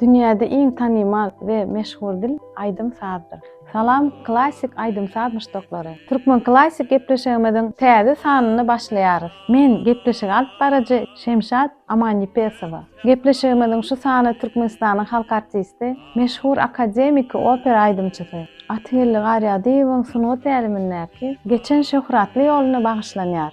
Dünýäde iň tanymal we meşhur dil aýdym-sazdyr. Salam Klassik aýdym-saz muşdaklary! Türkmen Klassik gepleşigimiziň täze sanyny başlaýarys. Men gepleşigi alyp baryjy Şemşat Amanýepesowa. Gepleşigimiziň şu sany Türkmenistanyň halk artisti, meşhur akademiki opera aýdymçysy Atygeldi Garýagdyýewiň sungat älemindäki geçen şöhratly ýoluna bagyşlanýar.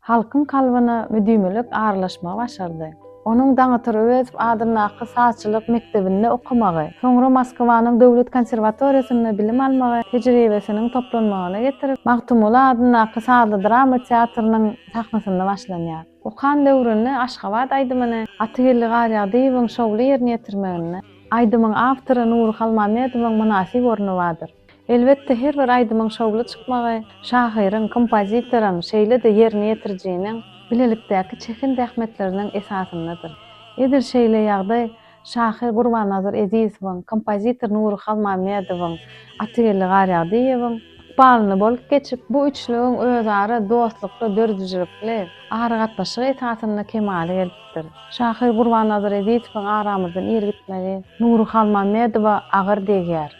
Halkyň kalbyna müdimilik aralaşmagy başardy. Onuň Daňatar Öwezow adyndaky sazçylyk mekdebinde okamagy, soňra Moskwanyň döwlet konserwatoriýasynda bilim almagy tejribesiniň toplanmagyna getirip, Magtymguly adyndaky sazly drama teatrynyň sahnasynda başlanýar. Okan döwründe Aşgabat aýdymyny Atageldi Garýagdyýewiň şowly ýerine ýetirmeginde aýdymyň awtory Nury Halmämmedowyň mynasyp orny bardyr. Elbetde, her bir aýdymyň şowly çykmagy şahyryň, kompozitoryň, şeýle-de ýerine ýetirijiniň bilelikdäki çeken zähmetleriniň esasyndadyr. Edil şeýle ýagdaý şahyr Gurbannazar Ezizowyň, kompozitor Nury Halmämmedowyň, Atygeldi Garýagdyýewiň ykbalynda bolup geçip, bu üçlügiň özara dostlukly, döredijilikli aragatnaşygy esasynda kemala gelipdir. Şahyr Gurbannazar Ezizowyň aramyzdan ir gitmegi Nury Halmämmedowa agyr degýär.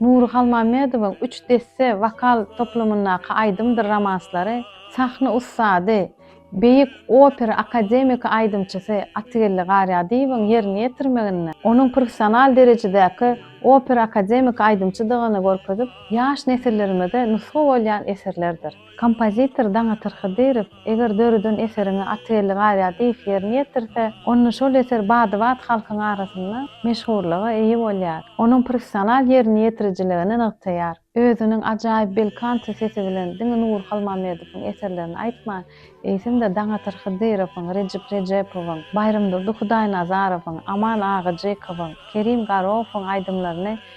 Nury Halmämmedowyň üç desse wokal toplumyndaky aýdymdyr romanslary sahna ussady, beýik opera akademiki aýdymçysy Atygeldi Garýadyýewiň ýerine ýetirmeginde onuň professional derejedäki opera akademiki aýdymçydygyny görkezip, ýaş nesillerimize nusga bolýan eserlerdir. Kompozitor Daňatar Hydyrow eger döreden eseriňe Atelli garýar diýip ýerine ýetirse, onda şol eser bady-bat halkyň arasynda meşhurlyga eýe bolýar. Onuň professional ýerine ýetirijiligini nygtaýar. Özüniň ajaýyp belkanto sesi bilen diňe Nury Halmamedowyň eserlerini aýtman, eýsem-de Daňatar Hydyrowyň, Rejep Rejepowyň, Baýramdurdy Hudaýnazarowyň, Aman Agajykowyň, Kerim Garowowyň aýdymlaryny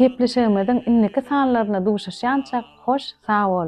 Gepleşigimiziň indiki sanlarynda duşuşýançak hoş sag boluň.